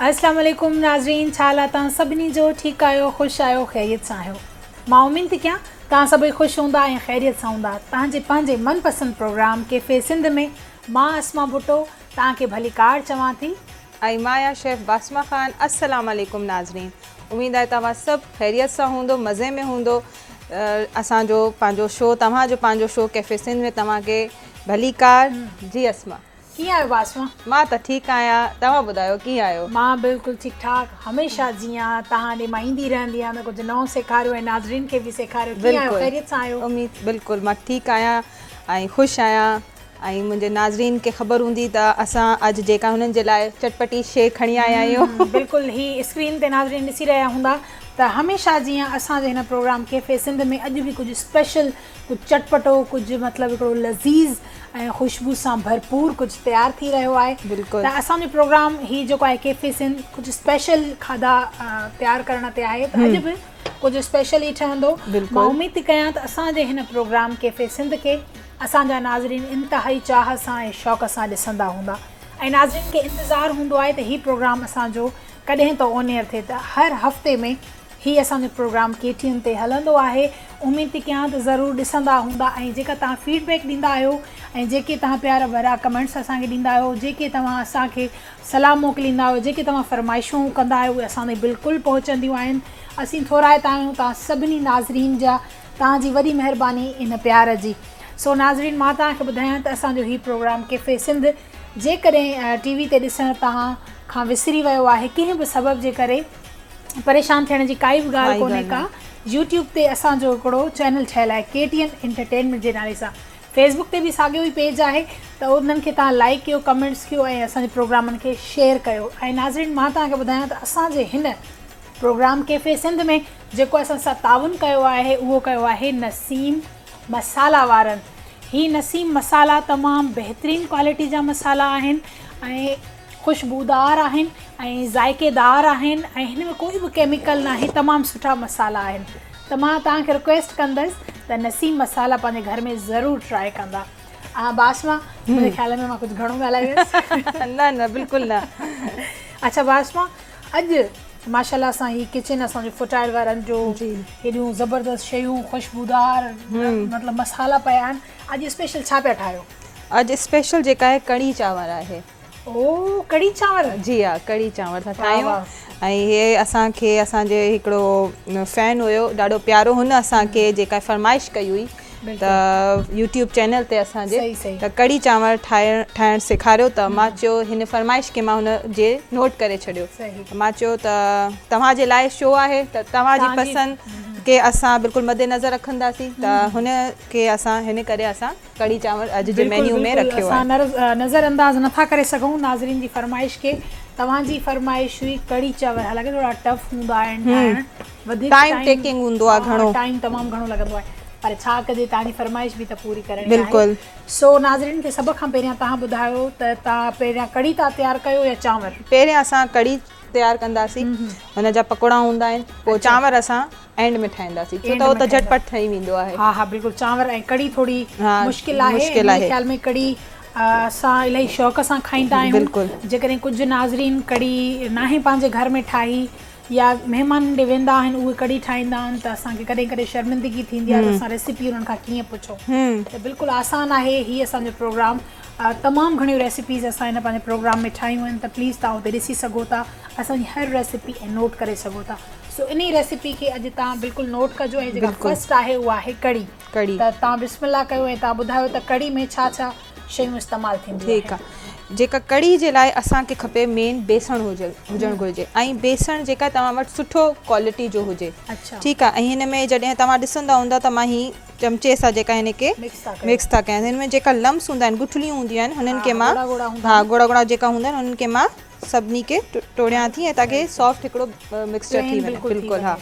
اسلام عليڪم ناظرين ڇا حال آ تهان سڀني جو ٺيڪ آهيو خوش آهيو خيريت سان آهيو مان امين ٿي ڪيان تهان سڀئي خوش هوندا ۽ خيريت سان هوندا تهان جي پنهنجي من پسند پروگرام ڪيفي سنڌ ۾ مان اسما ڀٽو تهان کي ڀلي ڪار چوان ٿي. ۽ مان يا شيف باسما خان اسلام عليڪم ناظرين اميد آهي توهان سڀ خيريت سان هوندو مزي ۾ هوندو اسان جو پنهنجو شو توهان جو پنهنجو شو ڪيفي سنڌ ۾ توهان کي ڀليڪار جي اسما. ڪيئن آهيو باسما؟ مان ته ٺيڪ آهيان توهان ٻڌايو ڪيئن آهيو؟ مان بلڪل ٺيڪ ٺاڪ هميشه جيئان توهان ڏي مان ايندي رهندي آهيان ته ڪجهه نئون سيکاريو ۽ ناظرين کي به سيکاريو ڪيئن آهيو خيريت سان آهيو؟ اميد بلڪل مان ٺيڪ آهيان ۽ خوش آهيان ۽ منهنجي ناظرين کي خبر هوندي ته اسان اڄ جيڪا هنن جي لاء چٽپٽي شي کڻي آيا آهيون. بلڪل هي اسڪرين تي ناظرين ڏسي رهيا هوندا ته هميشه جيئان اسان جي هن پروگرام ڪيفي سنڌ ۾ اڄ به ڪجهه اسپيشل ڪجهه چٽپٽو ڪجهه مطلب هڪڙو لذيذ ۽ خوشبو سان ڀرپور ڪجهه تيار ٿي رهيو آهي ته اسان جو پروگرام هي جيڪو آهي ڪيفي سنڌ ڪجهه اسپيشل کاڌا تيار ڪرڻ تي آهي ته اڄ به ڪجهه اسپيشل ئي ٺهندو مان اميد ٿي ڪيان ته اسان جي هن پروگرام ڪيفي سنڌ کي اسان جا ناظرين انتهائي چاهه سان ۽ شوق سان ڏسندا هوندا ۽ ناظرين کي انتظار هوندو آهي ته هي پروگرام اسان جو ڪڏهن ته اونيئر ٿئي ته هر هفتي ۾ هي اسان جو پروگرام ڪي ٽي اين تي هلندو آهي اميد ٿي ڪيان ته ضرور ڏسندا هوندا ۽ جيڪا توهان فيڊ بيڪ ڏيندا آهيو ۽ جيڪي توهان پيارا ڀرا ڪمينٽس اسان کي ڏيندا آهيو جيڪي توهان اسان کي صلاح موڪليندا آهيو جيڪي توهان فرمائشون ڪندا آهيو اهي اسان تائين بلڪل پهچنديون آهن اسين ٿورائتا آهيون توهان سڀني ناظرين جا توهان جي وڏي مهرباني ان پيار جي سو ناظرين مان توهان کي ٻڌايان ته اسان جو هي پروگرام ڪيفي سنڌ جيڪڏهن ٽي وي تي ڏسڻ توهان کان وسري ويو آهي ڪنهن به سبب جي ڪري پريشان ٿيڻ جي ڪائي به ڳالهه ڪونهي ڪا يوٽيوب تي اسان جو هڪڙو چينل ٺهيل آهي ڪي ٽي اين انٽرٽينمينٽ جي نالي سان فيسبڪ تي به ساڳيو ئي پيج آهي ته انهن کي تان لائڪ ڪيو ڪمينٽس ڪيو ۽ اسان جي پروگرامن کي شيئر ڪيو ۽ ناظرين مان تان کي ٻڌايان ته اسان جي هن پروگرام ڪيفي سنڌ ۾ جيڪو اسان سان تعاون ڪيو آهي اهو ڪيو آهي نسيم مسالا وارن هي نسيم مسالا تمام بهترين ڪوالٽي جا مسالا آهن ۽ خوشبودار آهن ۽ ذائقيدار آهن ۽ هن ۾ ڪوئي به ڪيميڪل ناهي تمام سٺا مصالحا آهن ته مان توهان کي رڪويسٽ ڪندس ته نسيم مصالحا پنهنجي گهر ۾ ضرور ٽرائي ڪندا باسما منهنجي خيال ۾ مان ڪجهه گهڻو ڳالهائي ويس نه نه بلڪل نه اچھا باسما اڄ ماشاءالله سان هي ڪچن اسان جو فرٽائل وارن جو هيڏيون زبردست شيون خوشبودار مطلب مصالحا پيا آهن اڄ اسپيشل ڇا پيا ٺاهيو اڄ اسپيشل جيڪا آهي ڪڙي چانور آهي او ڪڙي چانور جي ها ڪڙي چانور ٿا ٺاهيون ۽ هي اسان کي اسان جي هڪڙو فين هيو ڏاڍو پيارو هن اسان کي جيڪا فرمائش ڪئي هئي ته يوٽيوب چينل تي اسان جي ته ڪڙي چانور ٺاهڻ ٺاهڻ سيکاريو ته ما چيو هن فرمائش کي ما هن جي نوٽ ڪري ڇڏيو ما چيو ته توهان جي لاء شو آهي ته توهان جي پسند کي اسان بلڪل مد نظر رکنداسين ته هن کي اسان هن ڪري اسان ڪڙهي چانور اڄ جي مينيو ۾ رکيو آهي. بلڪل بلڪل اسان نظر انداز نٿا ڪري سگهون ناظرين جي فرمائش کي توهان جي فرمائش هئي ڪڙهي چانور حالانڪه ٿورا ٽف هوندا آهن ٺاهڻ وڌيڪ ٽائيم ٽيڪنگ هوندو آهي گهڻو ٽائيم تمام گهڻو لڳندو آهي پر ڇا ڪجي توهان جي فرمائش به ته پوري ڪرڻي آهي بلڪل سو ناظرين کي سڀ کان پهريان توهان ٻڌايو ته توهان پهريان ڪڙهي ٿا تيار ڪيو يا چانور پهريان اسان ڪڙهي تيار ڪنداسين ان جا پڪوڙا هوندا آهن پوء چانور اسان اينڊ ۾ ٺاهينداسين ڇو ته هو ته جهٽ پٽ ٺهي ويندو آهي ها ها بلڪل چانور ۽ ڪڙي ٿوري مشڪل آهي منهنجي خيال ۾ ڪڙي اسان الائي شوق سان کائيندا آهيون جيڪڏهن ڪجهه ناظرين ڪڙي ناهي پنهنجي گهر ۾ ٺاهي يا مهمانن ڏي ويندا آهن اهي ڪڙي ٺاهيندا آهن ته اسان کي ڪڏهن ڪڏهن شرمندگي ٿيندي آهي ته اسان ريسيپي انهن کان ڪيئن پڇون ته بلڪل آسان آهي هي اسان جو پروگرام تمام گهڻيون ريسيپيز اسان هن پنهنجي پروگرام ۾ ٺاهيون آهن ته پليز تون اتي ڏسي سگهو ٿا اسان جي هر ريسيپي نوٽ ڪري سگهو ٿا سو انهي ريسيپي کي اڄ تان بلڪل نوٽ ڪجو ۽ جيڪا فرسٽ آهي اها آهي ڪڙي ڪڙي ته تان بسم الله ڪيو ۽ تان ٻڌايو ته ڪڙي ۾ ڇا ڇا شيون استعمال ٿينديون آهن ٺيڪ آهي جيڪا ڪڙي جي لاء اسان کي کپي مين بيسڻ هجل هجڻ گهرجي ۽ بيسڻ جيڪا توهان وٽ سٺو ڪوالٽي جو هجي اڇا ٺيڪ آهي ۽ هن ۾ جڏهن توهان ڏسندا هوندا ته مان هي چمچي سان جيڪا هن کي مڪس ٿا ڪيان هن ۾ جيڪا لمس هوندا آهن گٺليون هونديون آهن هنن کي مان ها ڳوڙا ڳوڙا جيڪا هوندا آهن هنن کي مان سڀني کي ٽوڙيان ٿي ۽ تاڪي سافٽ هڪڙو مڪسچر ٿي وڃي بلڪل ها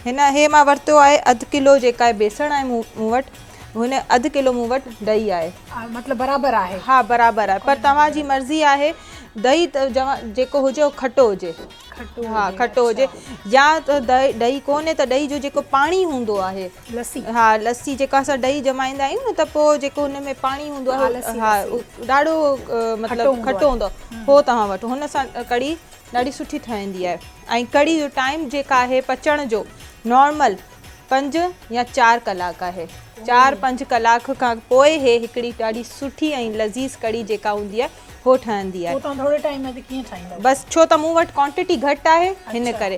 هن هي مان ورتو آهي اڌ ڪلو جيڪا آهي بيسڻ آهي مون وٽ هن اڌ ڪلو مون وٽ ڏهي آهي مطلب برابر آهي ها برابر آهي پر توهان جي مرضي آهي ڏهي جيڪو هجي کٽو هجي کٽو ها کٽو هجي يا ته ڏهي ڪونهي ته ڏهي جو جيڪو پاڻي هوندو آهي لسي. ها لسي جيڪا اسان ڏهي ڄمائيندا آهيون نه ته پوء جيڪو هن ۾ پاڻي هوندو آهي ها ڏاڍو مطلب کٽو هوندو آهي هو توهان وٽ هن سان ڪڙي ڏاڍي سٺي ٺهندي آهي ۽ ڪڙي جو ٽائيم جيڪا آهي پچڻ جو نارمل پنج يا چار ڪلاڪ آهي چار پنج ڪلاڪ کان پوء هي هڪڙي ڏاڍي سٺي ۽ لذيذ ڪڙي جيڪا هوندي آهي هو ٺهندي آهي بس ڇو ته مون وٽ ڪوانٽيٽي گهٽ آهي هن ڪري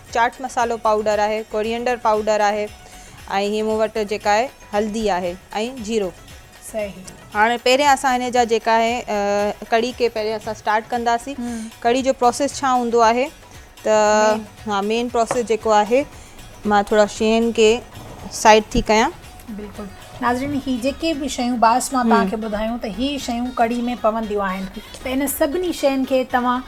چاٽ مصالحو پائوڊر آهي ڪوريئنڊر پائوڊر آهي ۽ هي مون وٽ جيڪا آهي هلدي آهي ۽ جيرو صحيح هاڻي پهريان اسان هن جا جيڪا آهي ڪڙي کي پهريان اسان اسٽارٽ ڪنداسين ڪڙي جو پروسيس ڇا هوندو آهي ته ها مين پروسيس جيڪو آهي مان ٿورا شين کي سائيڊ ٿي ڪيان بلڪل ناظرين هي جيڪي به شيون باس مان توهان کي ٻڌايون ته هي شيون ڪڙي ۾ پونديون آهن ته ان سڀني شين کي توهان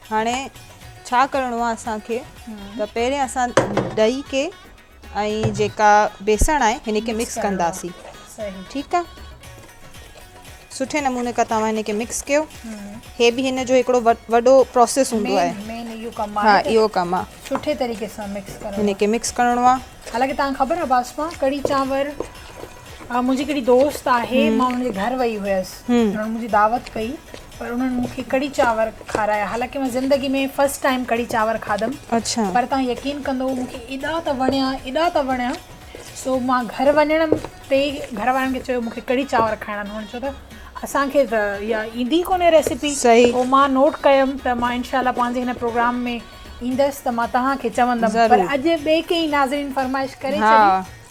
هاڻي ڇا ڪرڻو آهي اسان کي ته پهرين اسان ڏهي کي ۽ جيڪا بيسڻ آهي هن کي مڪس ڪنداسين ٺيڪ آهي سٺي نموني کان توهان هن کي مڪس ڪيو هي به هن جو هڪڙو وڏو پروسيس هوندو آهي مين اهو ڪم آهي ها اهو ڪم آهي سٺي طريقي سان مڪس ڪرڻو هن کي مڪس ڪرڻو آهي حالانڪه توهان کي خبر آهي باسما ڪڙي چانور منهنجي هڪڙي دوست آهي مان ان جي گهر وئي هئس انهن منهنجي دعوت ڪئي پر انهن مون کي ڪڙي چانور کارايا حالانڪه مان زندگي ۾ فرسٽ ٽائيم ڪڙي چانور کاڌم پر توهان يقين ڪندو مون کي ايڏا ته وڻيا ايڏا ته وڻيا سو مان گهر وڃڻ تي ئي گهر وارن کي چيو مون کي ڪڙي چانور کائڻا آهن هن چيو ته اسان کي ته اها ايندي ڪونهي ريسيپي پوء مان نوٽ ڪيم ته مان انشاء الله پنهنجي هن پروگرام ۾ ايندس ته مان توهان کي چوندم پر اڄ ٻئي ڪنهن ناظرين فرمائش ڪري ڇڏي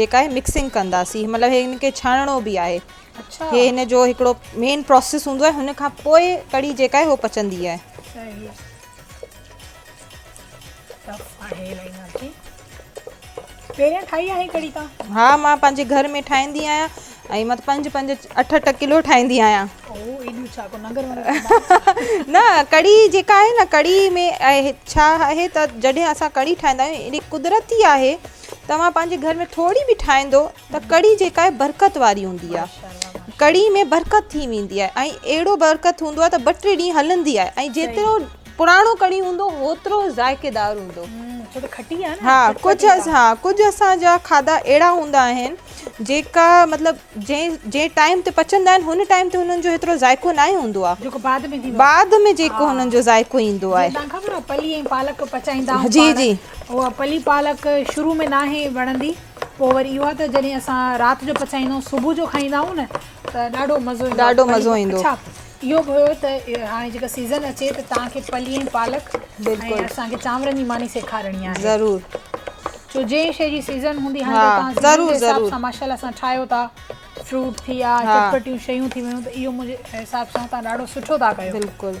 جيڪا هي مڪسنگ ڪنداسين مطلب هي هن کي ڇاڻڻو به آهي اچھا هي هن جو هڪڙو مين پروسيس هوندو آهي هن کان پوء ڪڙي جيڪا آهي هو پچندي آهي صحيح ٽف آهي الائي ناکي پهريان ٺاهي آهي ڪڙي تا ها مان پنهنجي گهر ۾ ٺاهيندي آهيان ۽ مت پنج پنج اٺ اٺ ڪلو ٺاهيندي آهيان او ايڏيو ڇا ڪو ننگر ونگر نه ڪڙي جيڪا آهي نه ڪڙي ۾ ڇا آهي ته جڏهن اسان ڪڙي ٺاهيندا آهيون ايڏي قدرتي آهي توهان پنهنجي گهر ۾ ٿوري به ٺاهيندو ته ڪڙي جيڪا آهي برڪت واري هوندي آهي ڪڙي ۾ برڪت ٿي ويندي آهي ۽ اهڙو برڪت هوندو آهي ته ٻه ٽي ڏينهن هلندي آهي ۽ جيترو پراڻو ڪڙي هوندو هوترو ذائقي دار هوندو ها ڪجهه ها ڪجهه اسان جا کاڌا اهڙا هوندا آهن جيڪا مطلب جنهن جنهن ٽائيم تي پچندا آهن هن ٽائيم تي هنن جو هيترو ذائقو ناهي هوندو آهي بعد ۾ جيڪو هنن جو ذائقو ايندو آهي جي جي اها پلي پالڪ شروع ۾ ناهي وڻندي پوء وري اهو ته جڏهن اسان رات جو پچائيندا آهيون صبح جو کائيندا آهيون نه ته ڏاڍو مزو ايندو ڏاڍو مزو ايندو اڇا اهو به هيو ته هاڻي جيڪا سيزن اچي ته تان کي پلي ۽ پالڪ بلڪل اسان کي چانورن جي ماني سيکارڻي آهي ضرور جو جنهن شي جي سيزن هوندي هاڻي تان ضرور ضرور سان ماشاءالله اسان ٺاهيو ٿا فروٽ ٿي يا چٽپٽيون شيون ٿي ويون ته اهو منهنجي حساب سان تان ڏاڍو سٺو ٿا ڪيو بلڪل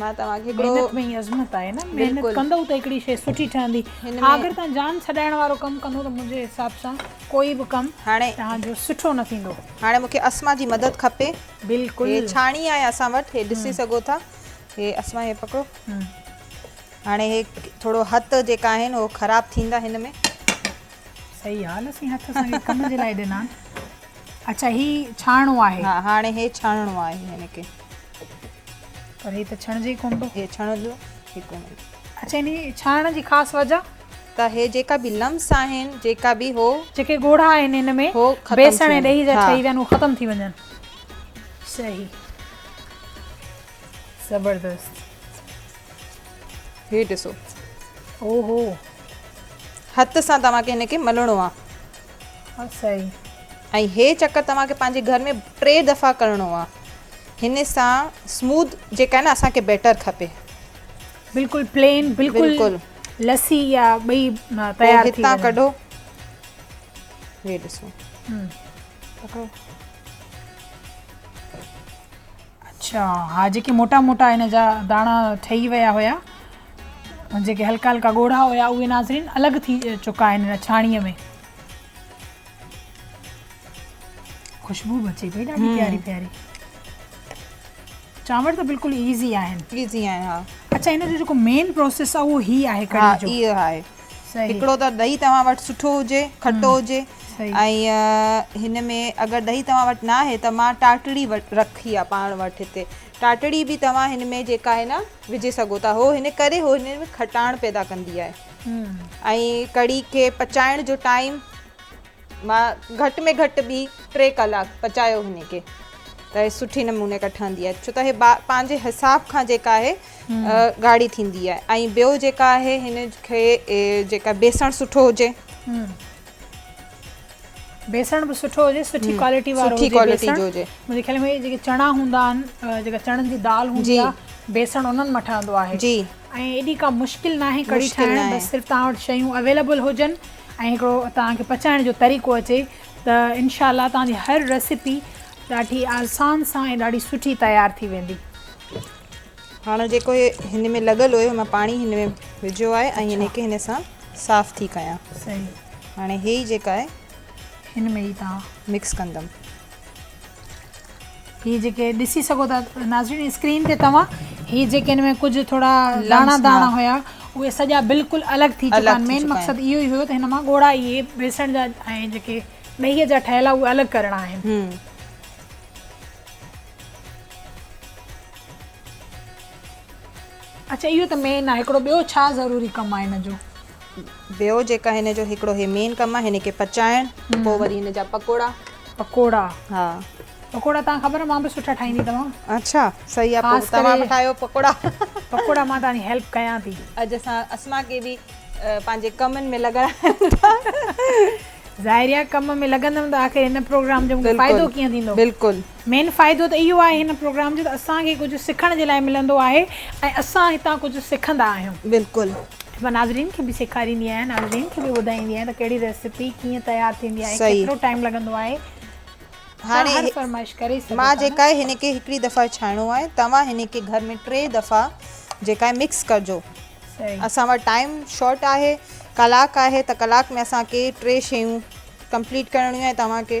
مان توهان کي هڪڙو محنت ۾ ئي عظمت آهي نه محنت بلڪل ڪندؤ ته هڪڙي شيء سٺي ٺهندي هن ها ۾ اگر تهان جان ڇڏائڻ وارو ڪم ڪندو ته منهنجي حساب سان ڪوئي به ڪم هاڻي تهان جو سٺو نه ٿيندو. هاڻي مون کي اسما جي مدد کپي بلڪل هي ڇاڻي آهي اسان وٽ هي ڏسي سگهو ٿا هي اسما هي پڪڙو هم. هاڻي هي ٿورو هٿ جيڪا آهن هو خراب ٿيندا هن ۾ صحيح حال اسين هٿ اسان کي ڪم جي لاء ڏنا آهن اچا هي ڇاڻڻو آهي ها هاڻي هي ڇاڻڻو آهي هن کي. پر هي ته ڇڻجي ئي ڪونه ٿو. هي ڇڻجو ئي ڪونه ٿو. اڇا ان جي ڇڻڻ جي خاص وجه؟ ته هي جيڪا به لمس آهن جيڪا به هو. جيڪي ڳوڙها آهن ان ۾ بيسڻ ۽ ڏهي جا ٺهي ويا آهن هو ختم ٿي وڃن. صحيح زبردست هي ڏسو. اوهو. هٿ سان توهان کي هن کي ملڻو آهي. ها سائين. ۽ هي چڪر توهان کي پنهنجي گهر ۾ ٽي دفعا ڪرڻو آ هن سان سموڌ جيڪا آهي نه اسان کي بيٽر کپي. بلڪل پلين بلڪل لسي يا ٻئي تيار ٿي هتان ڪڍو هي ڏسو. اڇا ها جيڪي موٽا موٽا هن جا داڻا ٺهي ويا هيا ۽ جيڪي هلڪا هلڪا ڳوڙها هيا اهي ناظرين الڳ ٿي چڪا آهن هن ڇاڻيء ۾ خوشبو به اچي پئي ڏاڍي پياري پياري چانور ته بلڪل ايزي آهن ايزي آهن ها اڇا هن جو جيڪو مين پروسيس آهي اهو هي آهي ڪڙهي جو ها اهو آهي هڪڙو ته ڏهي توهان وٽ سٺو هجي، کٽو هجي ۽ هن ۾ اگر ڏهي توهان وٽ نه آهي ته مان ٽاٽڙي رکي آهي پاڻ وٽ هتي. ٽاٽڙي به توهان هن ۾ جيڪا آهي نه وجهي سگهو ٿا. هو هن ڪري هو هن ۾ کٽاڻ پيدا ڪندي آهي ۽ ڪڙي کي پچائڻ جو ٽائيم. مان گهٽ ۾ گهٽ ٻي ٽي ڪلاڪ پچايو هن کي ته هي سٺي نموني کان ٺهندي آهي ڇو ته هي پنهنجي حساب کان جيڪا آهي ڳاڙهي ٿيندي آهي ۽ ٻيو جيڪا آهي هن کي جيڪا بيسڻ سٺو هجي بيسڻ به سٺو هجي سٺي ڪوالٽي وارو سٺي ڪوالٽي جو هجي منهنجي خيال ۾ جيڪي چڻا هوندا آهن جيڪا چڻن جي دال هوندي آهي بيسڻ انهن مان ٺهندو آهي جي ۽ ايڏي ڪا مشڪل ناهي ڪڙي ٺاهڻ بس صرف تان وٽ شيون اويليبل هجن ۽ هڪڙو توهان کي پچائڻ جو طريقو اچي ته انشاء الله توهان جي هر ريسيپي ڏاڍي آسان سان ۽ ڏاڍي سٺي تيار ٿي ويندي. هاڻ جيڪو هي هن ۾ لڳل هيو مان پاڻي هن ۾ وجهيو آهي ۽ هن کي هن سان صاف ٿي ڪيان. صحيح. هاڻي هي جيڪا آهي هن ۾ ئي تان مڪس ڪندم. هي جيڪي ڏسي سگهو ٿا ناظرين اسڪرين تي توهان هي جيڪي ان ۾ ڪجهه ٿورا داڻا داڻا هيا اهي سڄا بلڪل الڳ ٿي چڪا آهن مين مقصد اهو ئي هيو ته هن مان ڳوڙها اهي بيسڻ جا ۽ جيڪي ڏهي جا ٺهيل اهي الڳ ڪرڻا آهن اڇا اهو ته مين آهي هڪڙو ٻيو ڇا ضروري ڪم آهي ان جو. ٻيو جيڪا هن جو هڪڙو هي مين ڪم آهي هن کي پچائڻ پوء وري هن جا پڪوڙا پڪوڙا ها پڪوڙا تان خبر مان به سٺا ٺاهيندي توهان اچھا صحيح آ پوء توهان به ٺاهيو پڪوڙا پڪوڙا مان توهان جي هيلپ ڪيان ٿي اڄ اسان اسما کي به پنهنجي ڪمن ۾ لڳائڻ ٿا ظاهري آ ڪم ۾ لڳندم ته آخر هن پروگرام جو مون کي فائدو ڪيئن ٿيندو بلڪل مين فائدو ته اهو آهي هن پروگرام جو ته اسان کي ڪجهه سکڻ جي لاء ملندو آهي ۽ اسان هتان ڪجهه سکندا آهيون. بلڪل. مان ناظرين کي به سيکاريندي آهيان ناظرين کي به ٻڌائيندي آهيان ته ڪهڙي ريسيپي ڪيئن تيار ٿيندي آهي ڪيترو ٽائيم لڳندو آهي توهان هر فرمائش ڪري سگهو ٿا مان جيڪا آهي هن کي هڪڙي دفعي ڇاڻو آهي توهان هن کي گهر ۾ ٽي دفعا جيڪا آهي مڪس ڪرجو اسان وٽ ٽائيم شارٽ آهي ڪلاڪ آهي ته ڪلاڪ ۾ اسان کي ٽي شيون ڪمپليٽ ڪرڻيون آهي توهان کي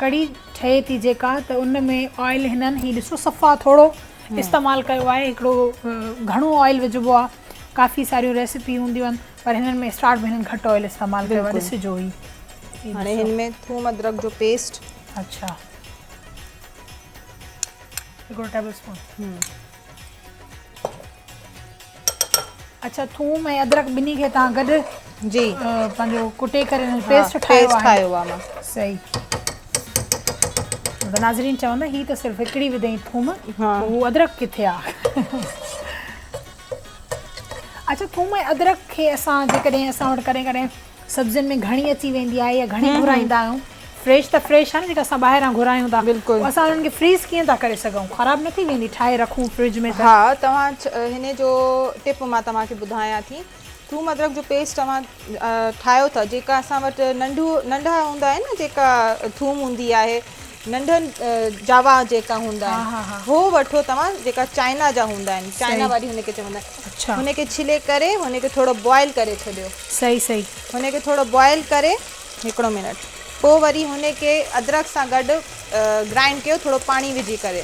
ڪڙي ٺهي ٿي جيڪا ته ان ۾ آئل هنن هي ڏسو صفا ٿورو استعمال ڪيو آهي هڪڙو گهڻو آئل وجهبو آهي ڪافي ساريون ريسپي هونديون آهن پر هنن ۾ اسٽارٽ ۾ هنن گهٽ آئل استعمال ڪيو آهي ڏسجو هي هاڻي هن ۾ ٿوم ادرڪ جو پيسٽ اڇا هڪڙو ٽيبل اسپون اچھا ٿوم ۽ ادرڪ ٻنهي کي تان گڏ جي پنهنجو ڪٽي ڪري ان جو پيسٽ ٺاهيو پيسٽ ٺاهيو آ مان صحيح ته ناظرين چوندا هي ته صرف هڪڙي وڌئي ٿوم ها هو ادرڪ ڪٿي آ اچھا ٿوم ۽ ادرڪ کي اسان جي ڪڏهن اسان وٽ ڪڏهن ڪڏهن سبزين ۾ گهڻي اچي ويندي آهي يا گهڻي گهرائيندا آهيون فريش ته فريش آهي نه جيڪا اسان ٻاهران گهرايون ٿا بلڪل اسان انهن کي فريز ڪيئن ٿا ڪري سگهون خراب نه ٿي ويندي ٺاهي رکون فرج ۾ ته ها توهان هن جو ٽپ مان توهان کي ٻڌايان ٿي ٿوم ادرڪ جو پيسٽ توهان ٺاهيو ٿا جيڪا اسان وٽ ننڍو ننڍا هوندا آهن نه جيڪا ٿوم هوندي آهي ننڍن جاوا جيڪا هوندا آهن هو وٺو توهان جيڪا چائنا جا هوندا آهن چائنا واري هن کي چوندا آهن هن کي ڇلي ڪري هن کي ٿورو بوائل ڪري ڇڏيو صحيح صحيح هن کي ٿورو بوائل ڪري هڪڙو منٽ پوء وري هن کي ادرڪ سان گڏ گرائنڊ ڪيو ٿورو پاڻي وجهي ڪري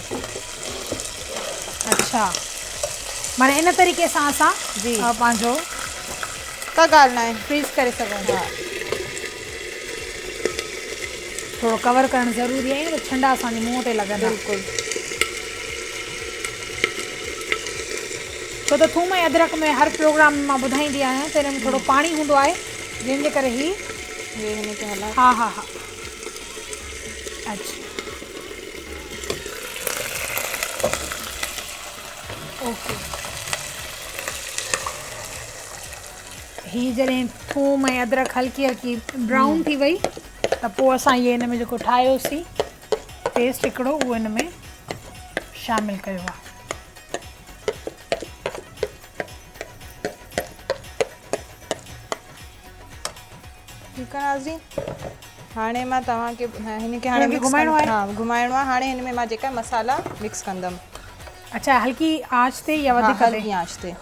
اچھا معنی ان طريقي سان اسان جي پنهنجو ڪا ڳالهه نه آهي فريز ڪري سگهون ٿا ٿورو ڪور ڪرڻ ضروري آهي ته ڇنڊا اسان جي منهن تي لڳندا بلڪل ڇو ته ٿوم ۽ ادرڪ ۾ هر پروگرام ۾ مان ٻڌائيندي آهيان ته ان ۾ ٿورو پاڻي هوندو آهي جنهن جي ڪري هي ها ها ها اچھا اوڪي هي جڏهن ٿوم ۽ ادرڪ هلڪي هلڪي برائون ٿي وئي ته پوء اسان هي هن ۾ جيڪو ٺاهيوسين پيسٽ هڪڙو اهو هن ۾ شامل ڪيو آهي. ٺيڪ آهي ناظرين هاڻي مان توهان کي هن کي هاڻي گهمائڻو آهي ها گهمائڻو آهي هاڻي هن ۾ مان جيڪا مصالحا مڪس ڪندم اچا هلڪي آنچ تي يا وڌيڪ تي هلڪي آنچ تي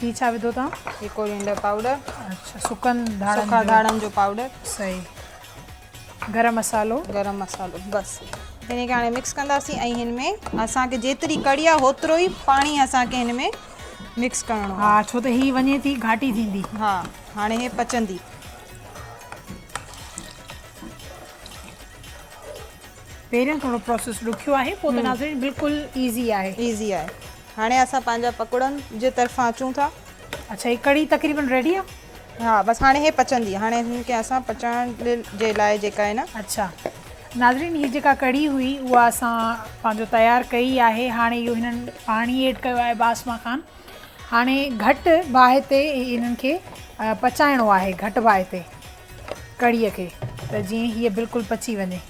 هي ڇا وڌو تان هي ڪورينڊر پاؤڊر اچھا سڪن ڌاڙن جو سڪا ڌاڙن جو پاؤڊر صحيح گرم مصالحو گرم مصالحو بس هن کي هاڻي مڪس ڪندا سي ۽ هن ۾ اسان کي جيتري ڪڙي آ هوترو ئي پاڻي اسان کي هن ۾ مڪس ڪرڻو ها ڇو ته هي وڃي ٿي گهاٽي ٿيندي ها هاڻي هي پچندي پهريون ٿورو پروسيس ڏکيو آهي پوء ته ناظرين بلڪل ايزي آهي. ايزي آهي هاڻي اسان پنهنجا پڪوڙن جي طرفان اچون ٿا. اڇا هي ڪڙي تقريبن ريڊي آ. ها بس هاڻي هي پچندي هاڻي هن کي اسان پچائڻ جي لاء جيڪا هي نه. اڇا ناظرين هي جيڪا ڪڙي هئي اها اسان پنهنجو تيار ڪئي آهي هاڻي اهو هنن پاڻي ايڊ ڪيو آهي باسمان خان. هاڻي گهٽ باهه تي انهن کي پچائڻو آهي گهٽ باهه تي ڪڙهي کي ته جيئن هيء بلڪل پچي وڃي.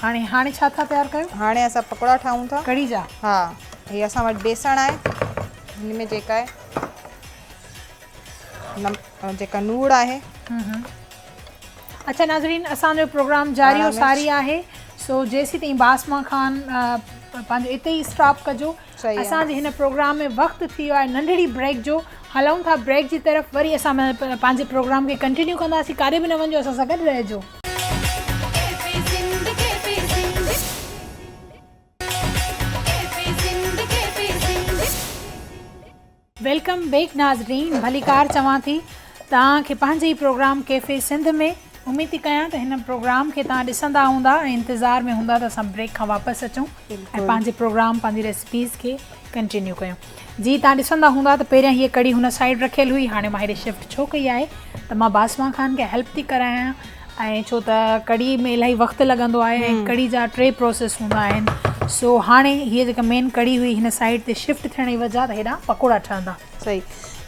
هاڻي هاڻي ڇا ٿا تيار ڪيو؟ هاڻي اسان پڪوڙا ٺاهيون ٿا. ڪڙهي جا؟ ها هي اسان وٽ بيسڻ آهي هن ۾ جيڪا آهي جيڪا نوڙ آهي. اچا ناظرين اسان جو پروگرام جاري و ساري آهي سو جيسي تائين باسما خان پنهنجو اتي ئي اسٽاپ ڪجو اسان جي هن پروگرام ۾ وقت ٿي ويو آهي ننڍڙي بريڪ جو هلون ٿا بريڪ جي طرف وري اسان پنهنجي پروگرام کي ڪنٽينيو ڪنداسي ڪاري به نه وڃو اسان سان گڏ رهجو ويلڪم بيڪ ناظرين ڀليڪار چوان ٿي توهان کي پنهنجي ئي پروگرام ڪيفي سنڌ ۾ اميد ٿي ڪيان ته هن پروگرام کي توهان ڏسندا هوندا ۽ انتظار ۾ هوندا ته اسان بريڪ کان واپس اچون ۽ پنهنجي پروگرام پنهنجي ريسپيز کي ڪنٽينيو ڪيون جي توهان ڏسندا هوندا ته پهريان هيء ڪڙي هن سائيڊ رکيل هئي هاڻي مان هيڏي شفٽ ڇو ڪئي آهي ته مان باسمان خان کي هيلپ ٿي ڪرايان ۽ ڇو ته ڪڙهي ۾ الاهي وقت لڳندو آهي ۽ ڪڙهي جا ٽي پروسيس هوندا آهن سو هاڻي هيء جيڪا مين ڪڙهي هئي هن سائيڊ تي شفٽ ٿيڻ جي وجهه تي هيڏانهن پڪوڙا ٺهندا. صحيح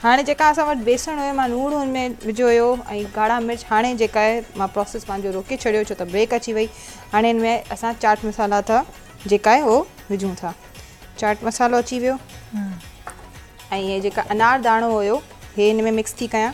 هاڻي جيڪا اسان وٽ بيسڻ هيو مان لوڻ هن ۾ وجهيو هيو ۽ ڳاڙها مرچ هاڻي جيڪا آهي مان پروسيس پنهنجو روڪي ڇڏيو ڇو ته بريڪ اچي وئي هاڻي هن ۾ اسان چاٽ مصالحا تھا جيڪا آهي هو وجهون ٿا چاٽ مصالحو اچي ويو ۽ هي جيڪا انار داڻو هيو هي هن ۾ مڪس ٿي ڪيان.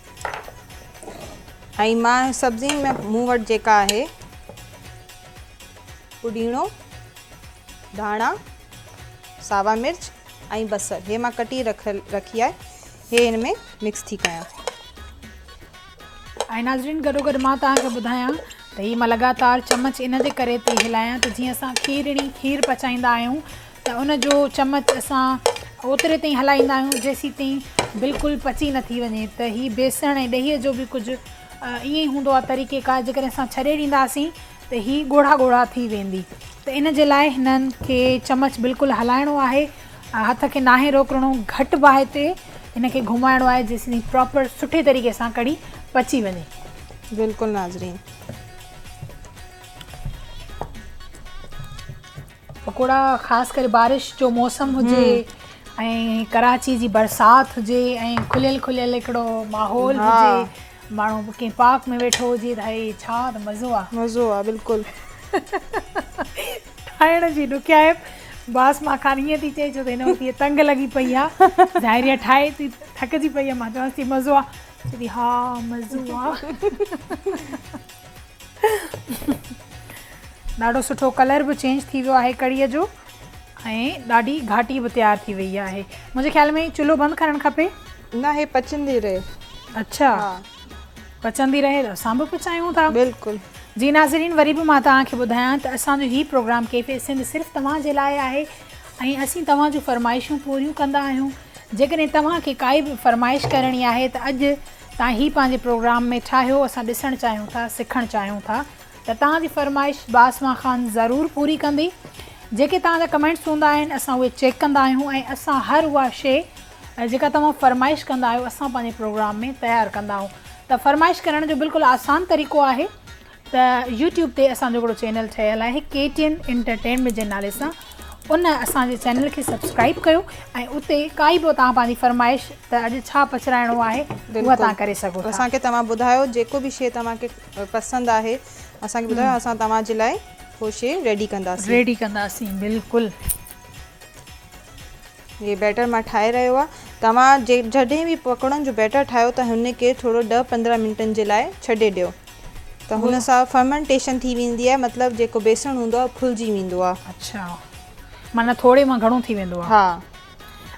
۽ مان سبزين ۾ مون وٽ جيڪا آهي پوڏيڻو ڌاڻا ساوا مرچ ۽ بصر هي مان ڪٽي رک رکي آهي هي هن ۾ مڪس ٿي ڪيان ۽ ناظرين گڏو گڏ مان توهان کي ٻڌايان ته هي مان لڳاتار چمچ ان جي ڪري پئي هلايان ته جيئن اسان کيرڻي کير پچائيندا آهيون ته ان جو چمچ اسان اوتري تائين هلائيندا آهيون جيسين تائين بلڪل پچي نه ٿي وڃي ته هي بيسڻ ۽ ڏهي جو به ڪجهه ائين ئي هوندو آهي طريقي ڪار جيڪڏهن اسان ڇڏي ڏينداسين ته هي ڳوڙها ڳوڙها ٿي ويندي ته ان جي لاء هنن کي چمچ بلڪل هلائڻو آهي هٿ کي ناهي روڪڻو گهٽ باهه تي هن کي گهمائڻو آهي جيسين تائين پراپر سٺي طريقي سان ڪڙي پچي وڃي بلڪل ناظرين پڪوڙا خاص ڪري بارش جو موسم هجي ۽ ڪراچي جي برسات هجي ۽ کليل کليل هڪڙو ماحول هجي ماڻهو ڪنهن پارڪ ۾ ويٺو هجي ته هي ڇا ته مزو آ مزو آ بلڪل ٺاهڻ جي ڏکيائپ باس مان کان ائين ٿي چئي ڇو ته هن وقت هي تنگ لڳي پئي آ ظاهري آ ٺاهي ٿي ٿڪجي پئي آ مان چوانس ٿي مزو آ چوي ٿي ها مزو آ ڏاڍو سٺو ڪلر به چينج ٿي ويو آهي ڪڙي جو ۽ ڏاڍي گهاٽي به تيار ٿي وئي آهي منهنجي خيال ۾ چلو بند ڪرڻ کپي نه هي پچندي رهي اچھا پچندي رهي ته اسان به پچايون ٿا بلڪل جي ناظرين وري به مان توهان کي ٻڌايان ته اسان جو هي پروگرام ڪيفي سنڌ صرف توهان جي لاء آهي ۽ اسين توهان جون فرمائشون پوريون ڪندا آهيون جيڪڏهن توهان کي ڪائي به فرمائش ڪرڻي آهي ته اڄ تان هي پنهنجي پروگرام ۾ ٺاهيو اسان ڏسڻ چاهيون ٿا سکڻ چاهيون ٿا ته تان جي فرمائش باسمان خان ضرور پوري ڪندي جيڪي تان جا ڪمينٽس هوندا آهن اسان اهي چيڪ ڪندا آهيون ۽ اسان هر اها شي جيڪا توهان فرمائش ڪندا آهيو اسان پنهنجي پروگرام ۾ تيار ڪندا آهيون ته فرمائش ڪرڻ جو بلڪل آسان طريقو آهي ته يوٽيوب تي اسان جو هڪڙو چينل ٺهيل آهي ڪي ٽي اين انٽرٽينمينٽ جي نالي سان ان اسان جي چينل کي سبسڪرائب ڪيو ۽ اتي ڪائي به توهان پنهنجي فرمائش ته اڄ ڇا پچرائڻو آهي اها توهان ڪري سگهو ٿا اسان کي توهان ٻڌايو جيڪو به شي توهان کي پسند آهي اسان کي ٻڌايو اسان توهان جي لاء هو شي ريڊي ڪنداسين ريڊي ڪنداسين بلڪل جي بيٽر مان ٺاهي رهيو آهي توهان جڏهن به پڪوڙن جو بيٽر ٺاهيو ته هن کي ٿورو ڏهه پندرهن منٽن جي لاء ڇڏي ڏيو ته هن سان فرمنٽيشن ٿي ويندي آهي مطلب جيڪو بيسڻ هوندو آهي ڦلجي ويندو آهي اڇا معنيٰ ٿوري مان گهڻو ٿي ويندو آهي ها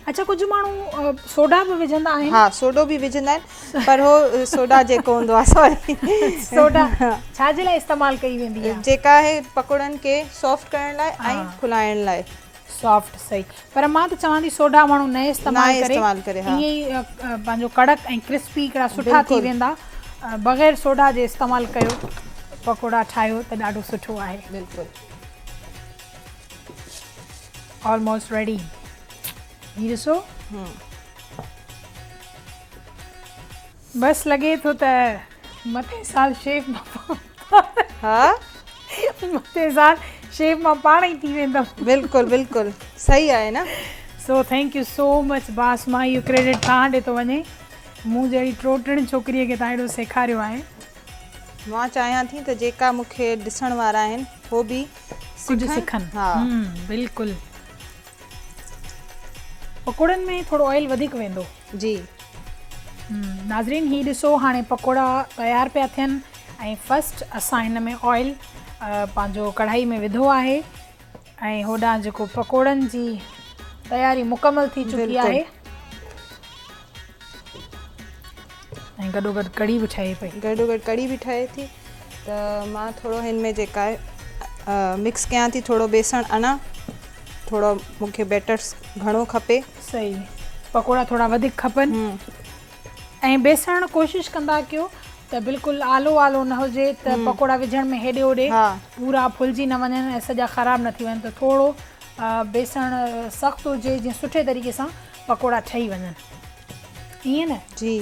اڇا ڪجهه ماڻهو سوڊا به وجهندا آهن ها سوڊو به وجهندا آهن پر هو سوڊا جيڪو هوندو آهي سوري سوڊا ڇا جي لاء استعمال ڪئي ويندي آهي جيڪا آهي پڪوڙن کي سافٽ ڪرڻ لاء ۽ کلائڻ لاء سافٽ سھي پر مان ته چوان ٿي سوڍا ماڻھو نھ استعمال ڪري ائين ئي پنھنجو ڪڙڪ ۽ ڪرسپي ھڪڙا سٺا ٿي ويندا بغير سوڍا جي استعمال ڪيو پڪوڙا ٺاھيو ته ڏاڍو سٺو آھي بلڪل آلموسٽ ريڊي ھي ڏسو بس لڳي ٿو ته مٿين سال شيف مان ها مٿين سال شيف مان پاڻ ئي ٿي ويندم بلڪل بلڪل صحيح آهي نه so thank you so much Basma اهو ڪريڊٽ توهان ڏي ٿو وڃي مون جهڙي ٽوٽڙين ڇوڪري کي توهان اهڙو سيکاريو آهي مان چاهيان ٿي ته جيڪا مونکي ڏسڻ وارا آهن هو به ڪجهه سکن ها بلڪل پڪوڙن ۾ ٿورو آئل وڌيڪ ويندو. جي. ناظرين هي ڏسو هاڻي پڪوڙا تيار پيا ٿين ۽ فرسٽ اسان هن ۾ آئل پنهنجو ڪڙهائي ۾ وڌو آهي ۽ هوڏانهن جيڪو پڪوڙن جي تياري مڪمل ٿي چڪي آهي. ۽ گڏو گڏ ڪڙي به ٺهي پئي. گڏو گڏ ڪڙي به ٺهي ٿي ته مان ٿورو هن ۾ جيڪا آهي مڪس ڪيان ٿي ٿورو بيسڻ انا ٿورو مون کي بيٽر گهڻو کپي. صحيح پڪوڙا ٿورا وڌيڪ کپن ۽ بيسڻ ڪوشش ڪندا ڪيو ته بلڪل آلو آلو نه هجي ته پڪوڙا وجهڻ ۾ هيڏي هوڏي پورا ڦلجي نه وڃن ۽ سڄا خراب نه ٿي وڃن ته ٿورو بيسڻ سخت هجي جيئن سٺي طريقي سان پڪوڙا ٺهي وڃن. ائين نه جي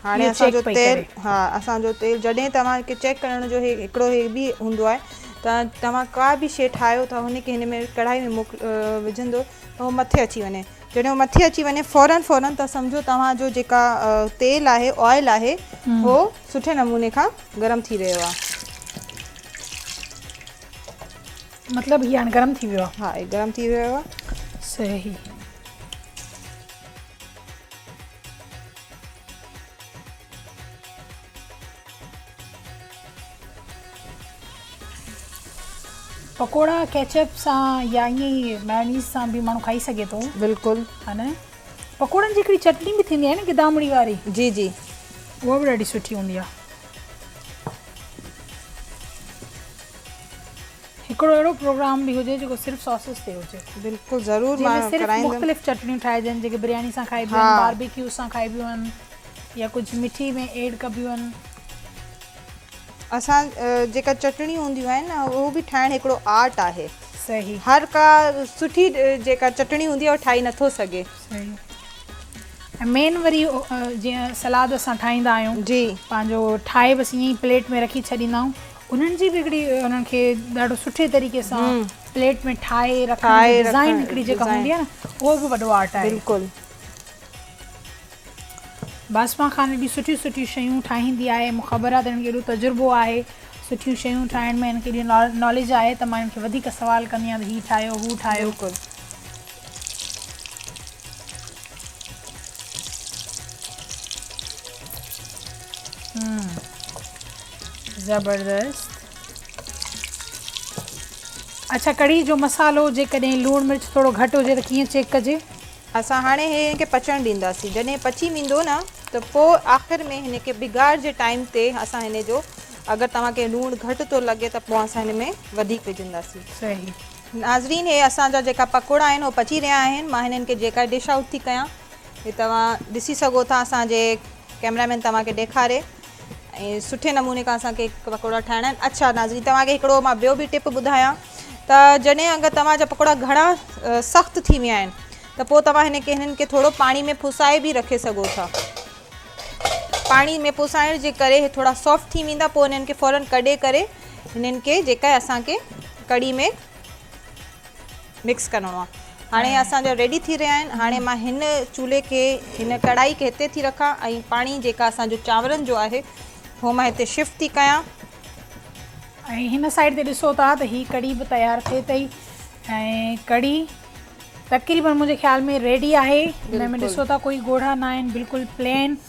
هاڻي اسان جو تيل ها اسان جو تيل جڏهن توهان کي چيڪ ڪرڻ جو هڪڙو هي به هوندو آهي ته توهان ڪا به شي ٺاهيو ٿا هن کي هن ۾ ڪڙهائي ۾ موڪ وجهندو ته هو مٿي اچي وڃي جڏهن هو مٿي اچي وڃي فورن فورن ته سمجهو توهان جو جيڪا تيل آهي آئل آهي هو سٺي نموني کان گرم ٿي رهيو آهي مطلب هي هاڻي گرم ٿي ويو آهي. ها هي گرم ٿي ويو آهي. صحيح. پڪوڙا ڪيچپ سان يا ائين ئي مايونيز سان به ماڻهو کائي سگهي ٿو. بلڪل. ها نه پڪوڙن جي هڪڙي چٽني به ٿيندي آهي نه گدامڙي واري. جي جي. اها به ڏاڍي سٺي هوندي آهي. هڪڙو اهڙو پروگرام به هجي جيڪو صرف ساسز تي هجي. بلڪل ضرور مان ڪرائيندم. جنهن ۾ صرف مختلف چٽنيون ٺاهجن جيڪي برياني سان کائبيون آهن باربيڪيو سان کائبيون آهن يا ڪجهه مٺي ۾ ايڊ ڪبيون آهن. اسان جيڪا چٽڻيون هونديون آهن نه اهو به ٺاهڻ هڪڙو آرٽ آهي. صحيح. هر ڪا سٺي جيڪا چٽڻي هوندي آهي اهو ٺاهي نٿو سگهي. صحيح. ۽ مين وري جيئن سلاد اسان ٺاهيندا آهيون. جي. پنهنجو ٺاهي بس ائين پليٽ ۾ رکي ڇڏيندا آهيون. انهن جي به هڪڙي انهن کي ڏاڍو سٺي طريقي سان پليٽ ۾ ٺاهي رکڻ جي ڊزائين هڪڙي جيڪا هوندي آهي نه اهو به وڏو آرٽ آهي بلڪل باسمان خان هيڏيون سٺيون سٺيون شيون ٺاهيندي آهي مون خبر آهي ته هن کي هيڏو تجربو آهي سٺيون شيون ٺاهڻ ۾ هن کي هيڏي ناليج آهي ته مان هن کي وڌيڪ سوال ڪندي آهيان ته هي ٺاهيو هو ٺاهيو زبردست اچھا ڪڙھي جو مصالحو جيڪڏھن لوڻ مرچ ٿورو گھٽ ھجي ته ڪيئن چيڪ ڪجي. اسان هاڻي هي هن کي پچڻ ڏينداسين جڏهن پچي ويندو نه ته پوء آخر ۾ هن کي بگاڙ جي ٽائيم تي اسان هن جو اگر توهان کي لوڻ گهٽ ٿو لڳي ته پوء اسان هن ۾ وڌيڪ وجهنداسين صحيح ناظرين هي اسان جا جيڪا پڪوڙا آهن هو پچي رهيا آهن مان هنن کي جيڪا ڊش آئوٽ ٿي ڪيان. هي توهان ڏسي سگهو ٿا اسان جي ڪيمرا مين توهان کي ڏيکاري ۽ سٺي نموني کان اسان کي پڪوڙا ٺاهڻا آهن اڇا ناظرين توهان کي هڪڙو مان ٻيو به ٽپ ٻڌايان ته جڏهن اگر توهان جا پڪوڙا گهڻا سخت ٿي ويا آهن ته پوء توهان هن کي هنن کي ٿورو پاڻي ۾ پسائي به رکي سگهو ٿا پاڻي ۾ پسائڻ جي ڪري هي ٿورا سافٽ ٿي ويندا پوء هنن کي فورن ڪڍي ڪري هنن کي جيڪا اسان کي ڪڙي ۾ مڪس ڪرڻو آ هاڻي اسان جا ريڊي ٿي رهيا آهن هاڻي مان هن چولهي کي هن ڪڙائي کي هتي ٿي رکان ۽ پاڻي جيڪا اسان جو چانورن جو آهي هو مان هتي شفٽ ٿي ڪيان ۽ هن سائيڊ تي ڏسو ٿا ته هي ڪڙي به تيار ٿئي تئي ۽ ڪڙي تقريبن منهنجي خيال ۾ ريڊي آهي هن ۾ ڏسو ٿا ڪوئي ڳوڙها نه آهن بلڪل پلين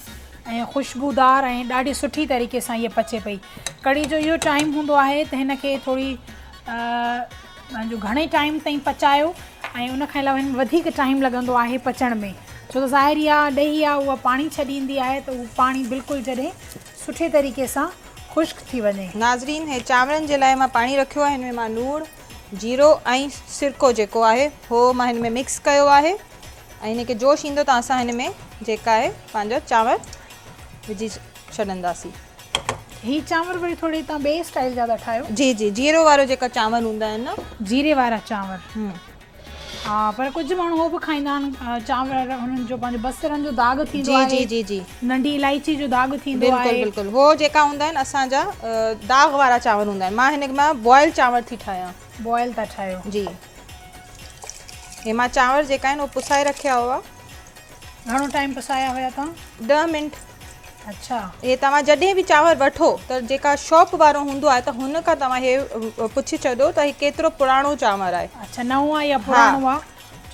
۽ خوشبودار ۽ ڏاڍي سٺي طريقي سان هي پچي پئي ڪڙي جو اهو ٽائيم هوندو آهي ته هن کي ٿوري جو گهڻي ٽائيم تائين پچايو ۽ ان کان علاوه هن ۾ وڌيڪ ٽائيم لڳندو آهي پچڻ ۾ ڇو ته ظاهر اها ڏهي آهي اها پاڻي ڇڏيندي آهي ته اهو پاڻي بلڪل جڏهن سٺي طريقي سان خشڪ ٿي وڃي. ناظرين هي چانورن جي لاء مان پاڻي رکيو آهي هن ۾ مان لوڻ جيرو ۽ سرڪو جيڪو آهي اهو مان هن ۾ مڪس ڪيو آهي ۽ هن کي جوش ايندو ته اسان هن ۾ جيڪا آهي پنهنجا چانور وجهي ڇڏنداسين. هي چانور وري ٿوري تان ٻئي اسٽائيل جا ٿا ٺاهيو. جي جي جيرو وارو جيڪا چانور هوندا آهن نه. جيري وارا چانور ها پر ڪجهه ماڻهو هو به کائيندا آهن چانور هنن جو پنهنجو بصرن جو داغ ٿيندو آهي جي جي جي ننڍي الائچي جو داغ ٿيندو آهي بلڪل بلڪل هو جيڪا هوندا آهن اسان جا داغ وارا چانور هوندا آهن مان هن مان بوائل چانور ٿي ٺاهيان بوائل ٿا ٺاهيو جي هي مان چانور جيڪا آهن هو پسائي رکيا هئا گهڻو ٽائيم پسايا هيا تان ڏهه منٽ. اڇا هي توهان جڏهن به چانور وٺو ته جيڪا شاپ وارو هوندو آهي ته هن کان توهان هي پڇي ڇڏيو ته هي ڪيترو پراڻو چانور آهي اڇا نئون آهي يا پراڻو آهي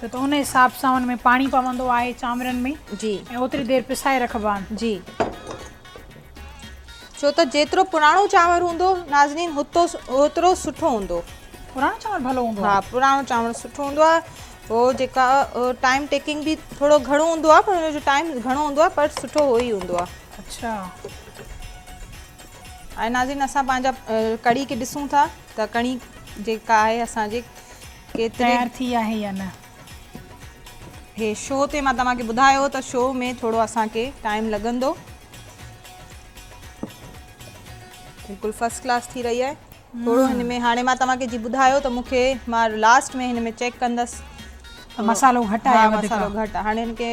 ڇو ته ان حساب سان ان ۾ پاڻي پوندو آهي چانورن ۾ جي ۽ اوتري دير پسائي رکبا آهن جي ڇو ته جيترو پراڻو چانور هوندو ناظرين هتو اوترو سٺو هوندو پراڻو چانور ڀلو هوندو آهي ها پراڻو چانور سٺو هوندو آهي هو جيڪا ٽائيم ٽيڪنگ به ٿورو گهڻو هوندو آهي پر هن جو ٽائيم گهڻو هوندو آهي پر سٺو هو ئي هوندو آهي اچھا ۽ ناظرين اسان پنهنجا ڪڙي کي ڏسون ٿا ته ڪڙي جيڪا آهي اسان جي تيار ٿي آهي يا نه هي شو تي مان توهان کي ٻڌايو ته شو ۾ ٿورو اسان کي ٽائيم لڳندو بلڪل فرسٽ ڪلاس ٿي رهي آهي ٿورو هن ۾ هاڻي مان توهان کي جي ٻڌايو ته مون کي مان لاسٽ ۾ هن ۾ چيڪ ڪندس ته مسالو گهٽ آهي وڌيڪ مسالو گهٽ هاڻي هن کي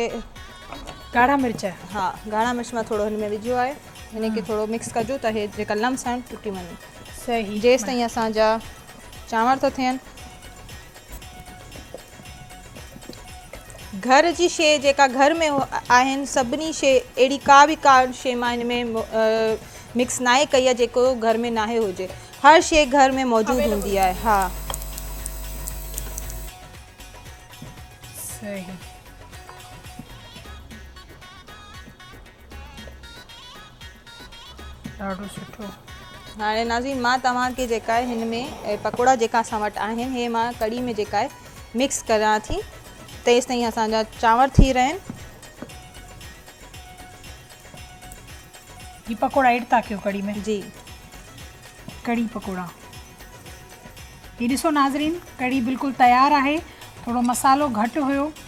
ڳاڙها مرچ ها ڳاڙها مرچ مان ٿورو هن ۾ وجهيو آهي هن کي ٿورو مڪس ڪجو ته هي جيڪا لمس آهن ٽٽي وڃن صحيح جيستائين اسان جا چانور ٿا ٿين گهر جي شيء جيڪا گهر ۾ آهن سڀني شيء اهڙي ڪا به ڪا شيء مان هن ۾ مڪس ناهي ڪئي آهي جيڪو گهر ۾ ناهي هجي هر شيء گهر ۾ موجود هوندي آهي ها صحيح ڏاڍو سٺو. هاڻي ناظرين مان توهان کي جيڪا آهي هن ۾ پڪوڙا جيڪا اسان وٽ آهن هي مان ڪڙي ۾ جيڪا آهي مڪس ڪريان ٿي تيس تائين اسان جا چانور ٿي رهن هي پڪوڙا ايڊ ٿا ڪيو ڪڙي ۾ جي ڪڙي پڪوڙا هي ڏسو ناظرين ڪڙي بلڪل تيار آهي ٿورو مصالحو گهٽ هيو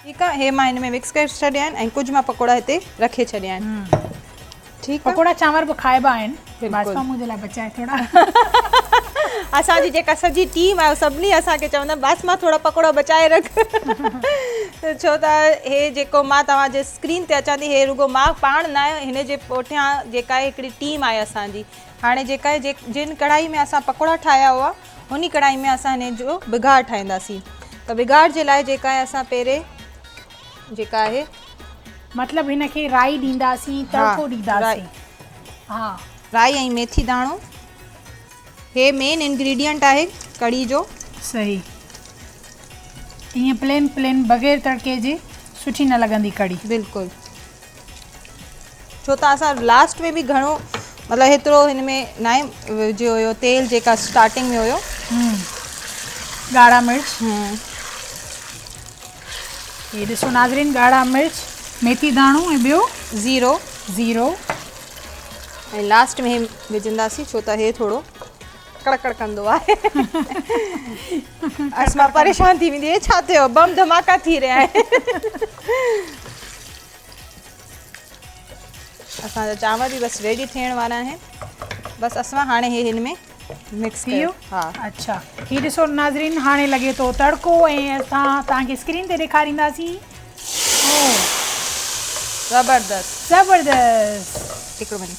ٺيڪ آ هي مان هن ۾ مڪس ڪري ڇڏيا آهن ۽ ڪجهه مان پڪوڙا هتي رکي ڇڏيا آهن ٺيڪ آ پڪوڙا چانور به کائبا آهن باسپا منهنجي لاء بچائي ٿوڙا اسان جي جيڪا سڄي ٽيم آهي سڀني اسان کي چوندا باسپا ٿوڙا پڪوڙا بچائي رک ڇو ته هي جيڪو مان توهان جي اسڪرين تي اچان ٿي هي رڳو مان پاڻ نه آهي هن جي پوٺيان جيڪا هڪڙي ٽيم آهي اسان جي هاڻي جيڪا جن ڪڙهائي ۾ اسان پڪوڙا ٺاهيا هئا انهي ڪڙائي ۾ اسان هن جو بگهار ٺاهينداسين ته بگهار جي لاء جيڪا آهي اسان پهرين جيڪا آهي مطلب هن کي رائي ڏينداسين تڙڪو ڏينداسين ها رائي ۽ ميٿي داڻو هي مين انگريڊينٽ آهي ڪڙي جو صحيح ائين پلين پلين بغير تڙڪي جي سٺي نه لڳندي ڪڙي بلڪل ڇو ته اسان لاسٽ ۾ به گهڻو مطلب هيترو هن ۾ ناهي وجهيو هيو تيل جيڪا اسٽارٽنگ ۾ هيو ڳاڙها مرچ هي ڏسو ناظرين ڳاڙها مرچ ميٿي داڻو ۽ ٻيو زيرو زيرو ۽ لاسٽ ۾ وجهنداسين ڇو ته هي ٿورو ڪڙ ڪڙ ڪندو آهي اسما پريشان ٿي ويندي هي ڇا ٿيو بم ڌماڪا ٿي رهيا آهن اسان جا چانور به بس ريڊي ٿيڻ وارا آهن بس اسما هاڻي هي هن ۾ مڪس ٿي ويو ها اچھا هي ڏسو ناظرين هاڻي لڳي ٿو تڙڪو ۽ اسان تان کي اسڪرين تي ڏيکارينداسين زبردست زبردست هڪڙو منٽ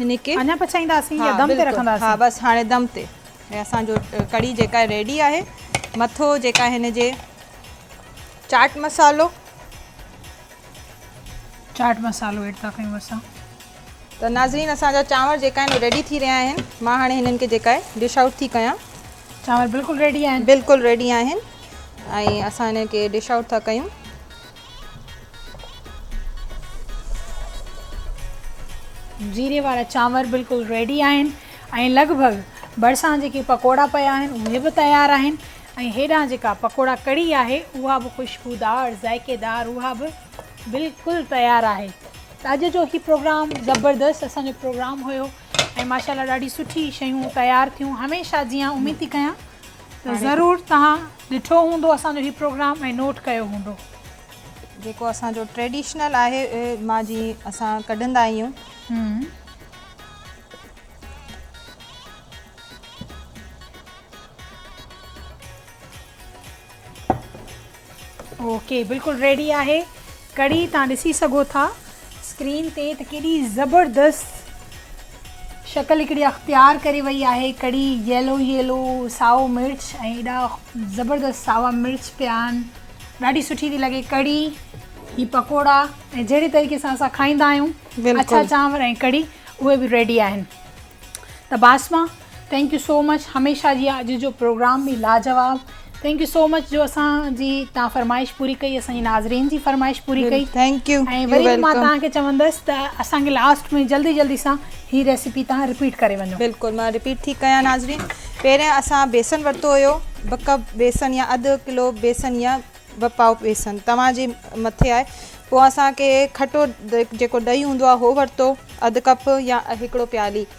هن کي اڃا پچائينداسين يا دم تي رکنداسين؟ ها بس هاڻي دم تي ۽ اسان جو ڪڙي جيڪا ريڊي آهي مٿو جيڪا هن جي چاٽ مسالو چاٽ مسالو ايڊ ٿا ڪيون اسان ته ناظرين اسان جا چانور جيڪا آهن ريڊي ٿي رهيا آهن مان هاڻي هنن کي جيڪا آهي ڊش آئوٽ ٿي ڪيان چانور بلڪل ريڊي آهن بلڪل ريڊي آهن ۽ اسان هن کي ڊش آئوٽ ٿا ڪيون جيري وارا چانور بلڪل ريڊي آهن ۽ لڳ ڀڳ ڀرسان جيڪي پڪوڙا پيا آهن اهي به تيار آهن ۽ هيڏانهن جيڪا پڪوڙا ڪڙي آهي اها به خوشبودار ذائقيدار اها به بلڪل تيار آهي ته اڄ جو هي پروگرام زبردست اسان جو پروگرام هيو ۽ ماشاء الله ڏاڍي سٺي شيون تيار ٿيون هميشه جيان اميد ٿي ڪيان ته ضرور تهان ڏٺو هوندو اسان جو هي پروگرام ۽ نوٽ ڪيو هوندو. جيڪو اسان جو ٽريڊيشنل آهي مان جي اسان ڪڍندا آهيون. اوڪي بلڪل ريڊي آهي. ڪڙي تان ڏسي سگهو ٿا اسڪرين تي ته ڪيڏي زبردست شڪل هڪڙي اختيار ڪري وئي آهي ڪڙي ييلو ييلو سائو مرچ ۽ ايڏا زبردست ساوا مرچ پيا آهن ڏاڍي سٺي ٿي لڳي ڪڙي هي پڪوڙا ۽ جهڙي طريقي سان اسان کائيندا آهيون اڇا چانور ۽ ڪڙي اهي به ريڊي آهن ته Basma thank you so much هميشه جيان اڄ جو پروگرام به لاجواب ٿينڪ يو سو مچ جو اسان جي تان فرمائش پوري ڪئي اسان جي ناظرين جي فرمائش پوري ڪئي ٿينڪ يو ۽ وري به مان تان کي چوندس ته اسان کي لاسٽ ۾ جلدي جلدي سان هي ريسيپي تان رپيٽ ڪري وڃو بلڪل مان رپيٽ ٿي ڪيان ناظرين پهرين اسان بيسن ورتو هيو ٻه ڪپ بيسن يا اڌ ڪلو بيسن يا ٻه پاؤ بيسن توهان جي مٿي آهي پوء اسان کي کٽو جيڪو ڏهي هوندو آهي هو ورتو اڌ ڪپ يا هڪڙو پيالي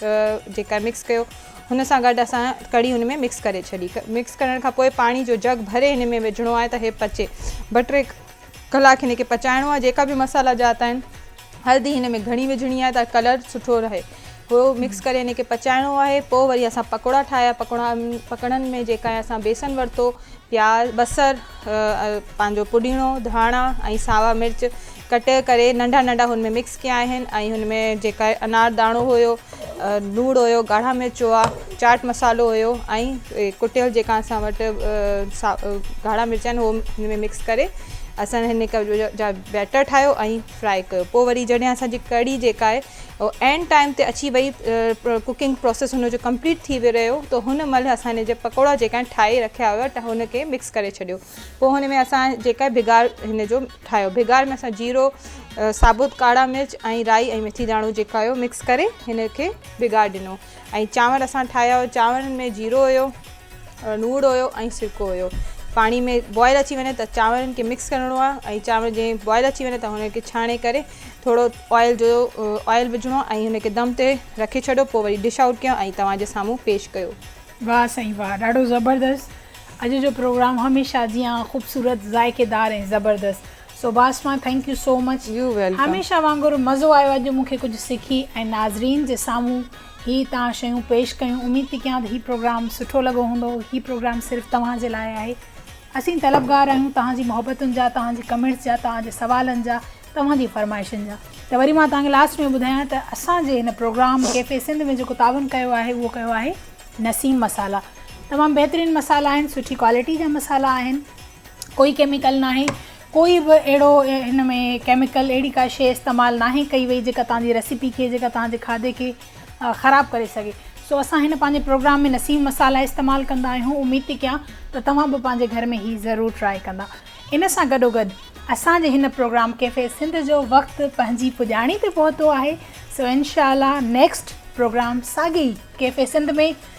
جيڪا مڪس ڪيو هن سان گڏ اسان ڪڙي ان ۾ مڪس ڪري ڇڏي مڪس ڪرڻ کان پوء پاڻي جو جگ ڀري هن ۾ وجهڻو آهي ته هي پچي ٻه ٽي ڪلاڪ هن کي پچائڻو آهي جيڪا به مصالحا جات آهن هلدي هن ۾ گهڻي وجهڻي آهي ته ڪلر سٺو رهي هو مڪس ڪري هن کي پچائڻو آهي پوء وري اسان پڪوڙا ٺاهيا پڪوڙا پڪوڙن ۾ جيڪا اسان بيسن ورتو پياز، بصر، پنهنجو پودينو، ڌاڻا ۽ ساوا مرچ ڪٽي ڪري ننڍا ننڍا هن ۾ مڪس ڪيا آهن ۽ هن ۾ جيڪا انار داڻو هيو، لوڻ هيو، ڳاڙها مرچ هئا، چاٽ مصالحو هيو ۽ ڪٽيل جيڪا اسان وٽ ڳاڙها مرچ آهن هو هن ۾ مڪس ڪري اسان هن جا بيٽر ٺاهيو ۽ فرائي ڪيو پوء وري جڏهن اسان جي ڪڙي جيڪا آهي. عين ٽائيم تي اچي وئي ڪوڪنگ پروسيس هن جو ڪمپليٽ ٿي رهيو ته هن مهل اسان هن جا پڪوڙا جيڪا آهن ٺاهي رکيا هئا ته هن کي مڪس ڪري ڇڏيو پوء هن ۾ اسان جيڪا ڀيگار هن جو ٺاهيو ڀيگار ۾ اسان جيرو ثابت ڪاڙا مرچ ۽ رائي ۽ ميٿي داڻو جيڪا هيو مڪس ڪري هن کي ڀيگار ڏنو ۽ چانور اسان ٺاهيا هئا چانورن ۾ جيرو هيو لوڻ هيو ۽ سرڪو هيو پاڻي ۾ بوائل اچي وڃي ته چانورن کي مڪس ڪرڻو آهي ۽ چانور جي بوائل اچي وڃي ته هن کي ڇاڻي ڪري ٿورو آئل جو آئل وجهڻو آهي ۽ هن کي دم تي رکي ڇڏو پوء وري ڊش آئوٽ ڪيو ۽ توهان جي سامهون پيش ڪيو. واھ سائين واھ ڏاڍو زبردست اڄ جو پروگرام هميشه جيان خوبصورت ذائقيدار ۽ زبردست سوڀاشما thank you so much you welcome. هميشه وانگر مزو آيو اڄ مون کي ڪجهه سکي ۽ ناظرين جي سامهون هي تان شيون پيش ڪيون اميد ٿي ڪيان ته هي پروگرام سٺو لڳو هوندو هي پروگرام صرف توهان جي لاء آهي اسين طلبگار آهيون توهان جي محبتن جا توهان جي ڪمينٽس جا توهان جي سوالن جا توهان جي فرمائشن جا ته وري مان توهان کي لاسٽ ۾ ٻڌايان ته اسان جي هن پروگرام ڪيفي سنڌ ۾ جيڪو تعاون ڪيو آهي اهو ڪيو آهي نسيم مسالا تمام بهترين مسالا آهن سٺي ڪوالٽي جا مسالا آهن. ڪوئي ڪيميڪل ناهي ڪوئي به اهڙو هن ۾ ڪيميڪل اهڙي ڪا شيء استعمال ناهي ڪئي وئي جيڪا توهان جي ريسيپي کي جيڪا توهان جي کاڌي کي خراب ڪري سگهي سو اسان هن پنهنجي پروگرام ۾ نسيم مصالحا استعمال ڪندا آهيون اميد ٿي ڪيان ته توهان به پنهنجي گهر ۾ هي ضرور ٽرائي ڪندا ان سان گڏو گڏ اسان جي هن پروگرام ڪيفي سنڌ جو وقت پنهنجي پڄاڻي تي پهتو آهي سو انشاء الله نيڪسٽ پروگرام ساڳي ڪيفي سنڌ ۾